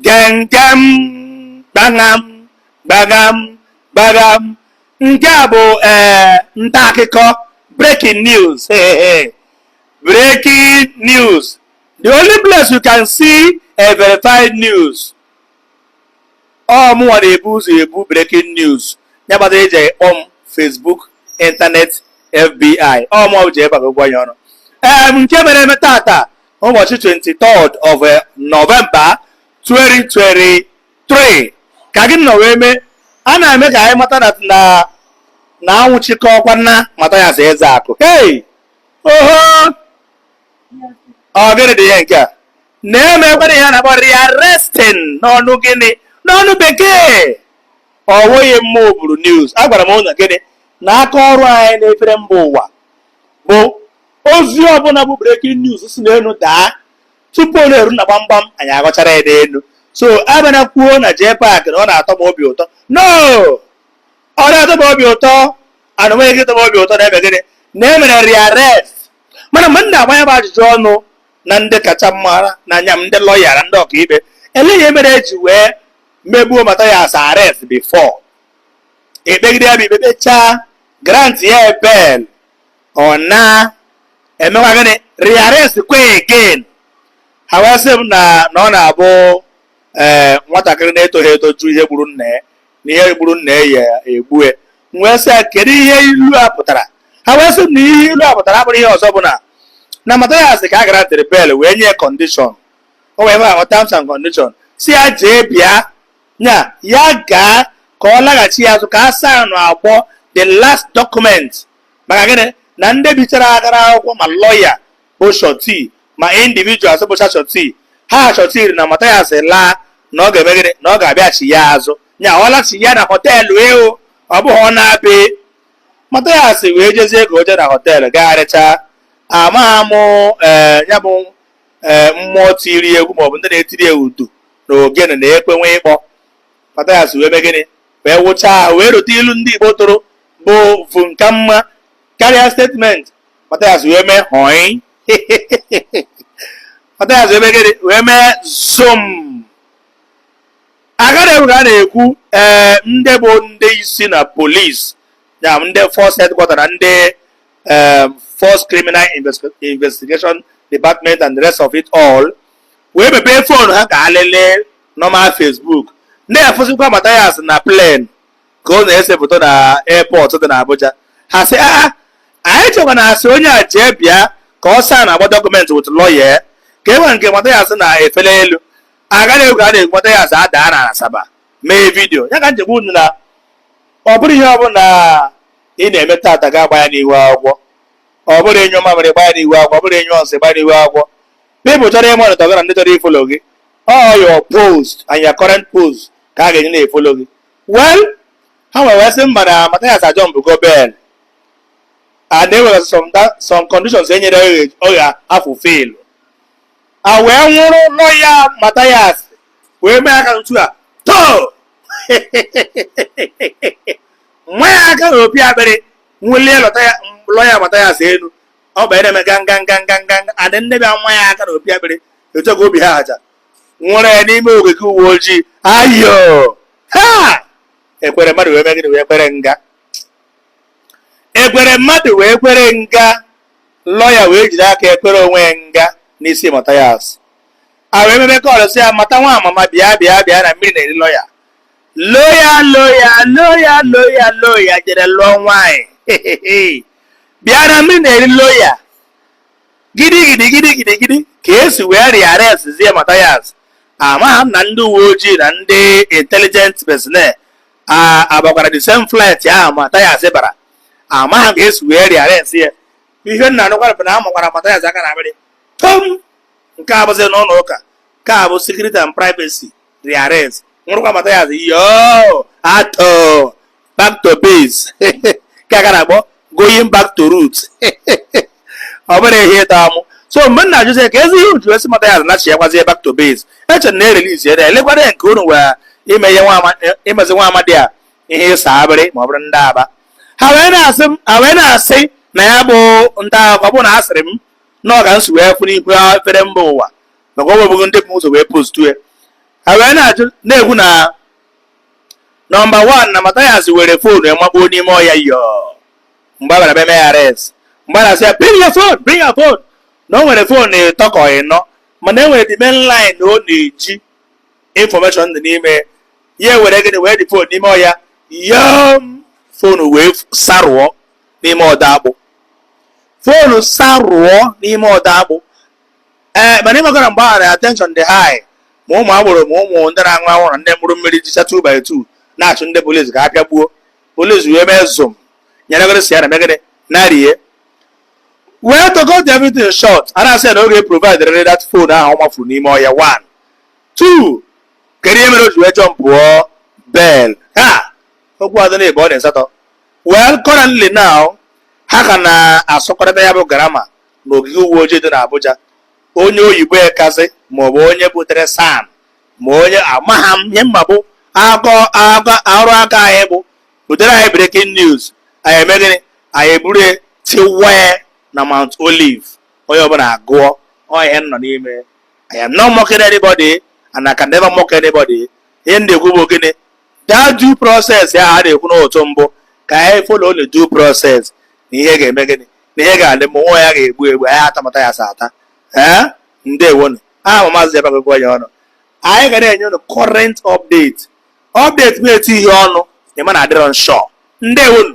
Gengem, gbaṅam, gbagham, gbagham. Nke a bụ ee nta akụkọ breaking news. Hey, hey. Breaking news. The only place you can see a verified news. Ọ mụnwa na-ebu ụzọ ebu breaking news. Ya kpatara eji ekpọ m Facebook, internet, FBI. Ọ mụnwa bụ ji ebe a gwa ya ọnụ. Ee, nke mere eme taata ụbọchị 23 of eh, November 2023 ka gịnị nọ wee mee a na-eme ka anyị mata na na na anwụchikọkwana Mathias Ezeaku hey oho ọ gịnị dị ihe nke a na e mekwara ihe a na-akpọ rearresting n'ọnụ gịnị n'ọnụ bekee ọ wụghị mma oburu news agwara m ụnụ gịnị na aka ọrụ anyị na-efere mba ụwa bụ ozi ọbụla bụ breaking news si n'elu daa tupu ọ na-eru na gbamgbam anyị aghọchara ya n'elu so abịana kwuo na jee paakị na ọ na-atọ m obi ụtọ no ọ da-atọ m obi ụtọ ana onweghị gị tọ m obi ụtọ na-eme gịnị na e mere rearrest mana mgbe m na-agba ya bụ ajụjụ ọnụ na ndị kacha mara na anya m ndị lọya na ndị ọkaikpe ele ihe mere eji wee mebuo Mathias arrest before e kpegide ya bụ ikpe kpechaa grant ya bail ọ na emekwa gịnị rearrest kwa again ha wee sị m na na ọ na-abụ ee eh, nwatakịrị na-etoghị eto jụọ ihe gburu nna ya na ihe gburu nna ya egbue m wee sị ya kedu ihe ilu a pụtara ha wee sị m na ihe ilu a pụtara abụrọ ihe ọzọ bụ na na Mathias ka a grantịrị bail wee nye condition or terms and condition sị ya jee bịa nya ya gaa ka ọ laghachia azụ ka a sign akwụkwọ the last document maka gịnị na ndị bichara aka n'akwụkwọ ma lọya bụ surety ma individuals bụcha surety ha shọtiri na Mathias laa na ọ ga-eme gịnị na ọ ga-abịachia azụ nya ọ lachia na họteelụ eo ọ bụghị ọ naa be Mathias wee jezie ka o jee na họteelụ gagharịchaa amaghị m ee ya bụ ee mmụọ tiri egwu maọbụ ndị na-etiri ya udu na ogene na ekwe wee kpọọ Mathias wee mee gịnị wee wụchaa ahụ wee rote ilu ndị Igbo tụrụ bụ vum ka mma karịa statement Mathias wee mee hoi Mathias wee mee gịnị wee mee zoom a ka na-ekwu ka a na-ekwu ee eh, ndị bụ ndị isi na polisi na ndị force headquarter na ndị eh, force criminal investigation department and the rest of it all wee mepee fon ha ka ha lelee na Facebook na-efụzikwa Mathias na plen ka ọ na-ese foto na airport dị na Abuja ha sị aa anyị chekwa na asị onye a jee bịa ka ọ saa na-agba dọkụmentị wit lọya ka e nwere nke Mathias na-efe n'elu a ka na-ekwu a na-ekwu Mathias adaa na Asaba mee vidiyo ya ka m ji agwa unu na ọ bụrụ ihe ọ bụla ị na-eme tata ga-agba ya n'ihu akwụkwọ ọ bụrụ ịnyụ mamịrị gbaa ya n'ihu akwụkwọ ọ bụrụ ịnyụ nsị gbaa ya n'ihu akwụkwọ People chọrọ ịma ọnọdụ gị na ndị chọrọ ifolo gị all your post and your current post ka a ga-enye na-efolo gị well ha nwere wee sị mba na Mathias ajọmpụgo bail and e nwere some da- some conditions e nyere ọ ya- ọ ya-afulfil a wee nwụrụ lọya Mathias wee mee aka otu a tọọ nwa ya aka na opi akpịrị nwụlie lọta ya- lọya Mathias elu ọ bụ na-eme gangangangangan adị ndị bịa nwa ya aka na opi akpịrị etu ka obi ha aja nwụrụ ya n'ime ogige uwe ojii ayo ha ekwere mmadụ wee megide wee kwere nga ekwere mmadụ wee kwere nga lọya wee jiri aka ekwere onwe ya nga n'isi Mathias a wee mebe kọlụ sị ya mata nwa amama bịa bịa bịa na mmiri na-eri lọya loya loya loya loya loya jere lụọ nwaanyị bịa na mmiri na-eri loya gidi gidi gidi gidi gidi ka esi wee re-arrestzie Mathias amaghị m na ndị uwe ojii na ndị intelligent personnel abakwara the same flight ahụ Mathias bara amaghị m ka esi wee re-arrest ya ihe m na-anụkwara bụ na a makwara Mathias aka na akpịrị too nke a bụzi n'ụlọ ụka nke a bụ secret and privacy re-arrest nwụrụkwa Mathias too back to base ka a na-akpọ going back to roots ọ bụrụ ihe ịta amụ so mgbe m na-ajụzi keezi ihe e ji asị Mathias nachiakwazie back to base echere m na e relizi ya elekwara ya nke unu wee ime ihe imezi nwa amadi a ihe ịsa akpịrị ma ọ bụrụ ndị aba ha wee na-asị m ha wee na-asị na ya bụ nta akụkọ bụ na asịrị m na-akọ m si wee fụ n'ihu efere mba ụwa maka ọ bụghị ndị bụ ụzọ wee postu ya ha wee na-ajụ na-ekwu na nọmba wan na Mathias were foonu ya makpuo n'ime ọya yo mgbe a bịara mee arrest mgbe a na-asị ya bring your phone bring your phone na o nwere foonu ịtọ ka ịnọ mana e nwere the main line na ọ na-eji information dị n'ime ya ewere gịnị wee dị foonu n'ime ọya yo foonu wee sarụọ n'ime ọda akpụ foonu sarụọ n'ime ọda akpụ ee eh, mana ị makwara mgbe ahụ attention dị high ma ụmụ agboro ma ụmụ ndị na-aṅụ anwụrụ na ndị mkpụrụ mmiri jicha 2 by 2 na-achụ ndị polisi ka a pịagbuo polisi wee mee zom nyeregoro si ya na megịnị narie wee to cut the everything short a na-asị ya na ọ ga-eprovide riri that phone ahụ ọ mafuru n'ime ọhịa one two kedu ihe mere o ji wee jumpụọ bail ha okwu adị na ebe ọ dị asatọ well currently now ha ka na-asụkọrịta ya bụ grammar n'ogige uwe ojii dị n'Abuja onye oyibo ekazi maọbụ onye butere SAN ma onye amaghị m ihe m ma bụ akọ akọ arụ aka anyị bụ butere anyị breaking news anyị eme gịnị anyị eburu ya tiwee na Mount Olive onye ọbụla agụọ ọ ihe m nọ n'ime I am not mocking anybody and I can never mock anybody ihe m na-ekwu bụ gịnị that due process ya a na-ekwu n'otu mbụ ka anyị follow the due process na ihe ga-eme gịnị na ihe ga-adị mma nwa ya ga-egbu egbu anyị atamata ya sa ata ee ndewonu aha m a Maazị Jabaka gụọ ya ọnụ anyị ga na-enye unu current update update bụ etu ihe ọnụ ịma na adịrọ nshọ ndewonu